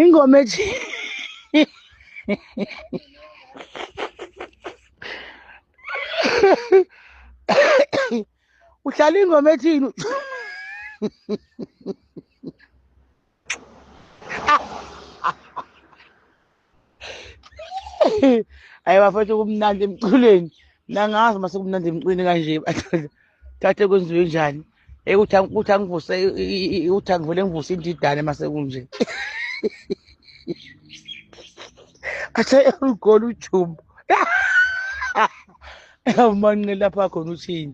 ingoma ethi uhlala ingoma ethini hayi bafethu kumnandi emculweni mna ngazi uma sekumnandi emculweni kanje badoda thathe kwenziwe njani Eh, ukuthi ang- ukuthi angivuse i- i- i- ukuthi angivele ngivuse indidane uma sekunje athe ugola ujumbo awumanqe lapha khona uthini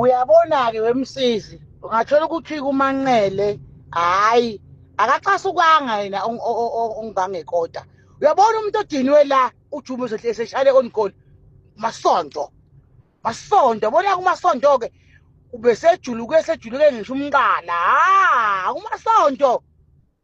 uyabona-ke wemsizi ungathola ukuthi kumanqele hhayi akaxasukwanga yena ongibangekota uyabona umuntu odinwe la ujume eseshale onikoli masonto masonto yabona kumasonto-ke ubesejuluke esejuluke ngisho umqala ha kumasonto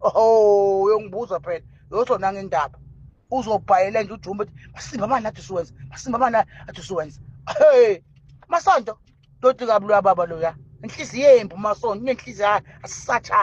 oh uyongibuza phela yozona ngendaba uzobhayela nje ujumbe ukuthi masimba mani athi siwenza masimba mani athi siwenza hey masonto doti kabulwa baba loya inhliziyo yembi umasonto inenhliziyo asisatshaya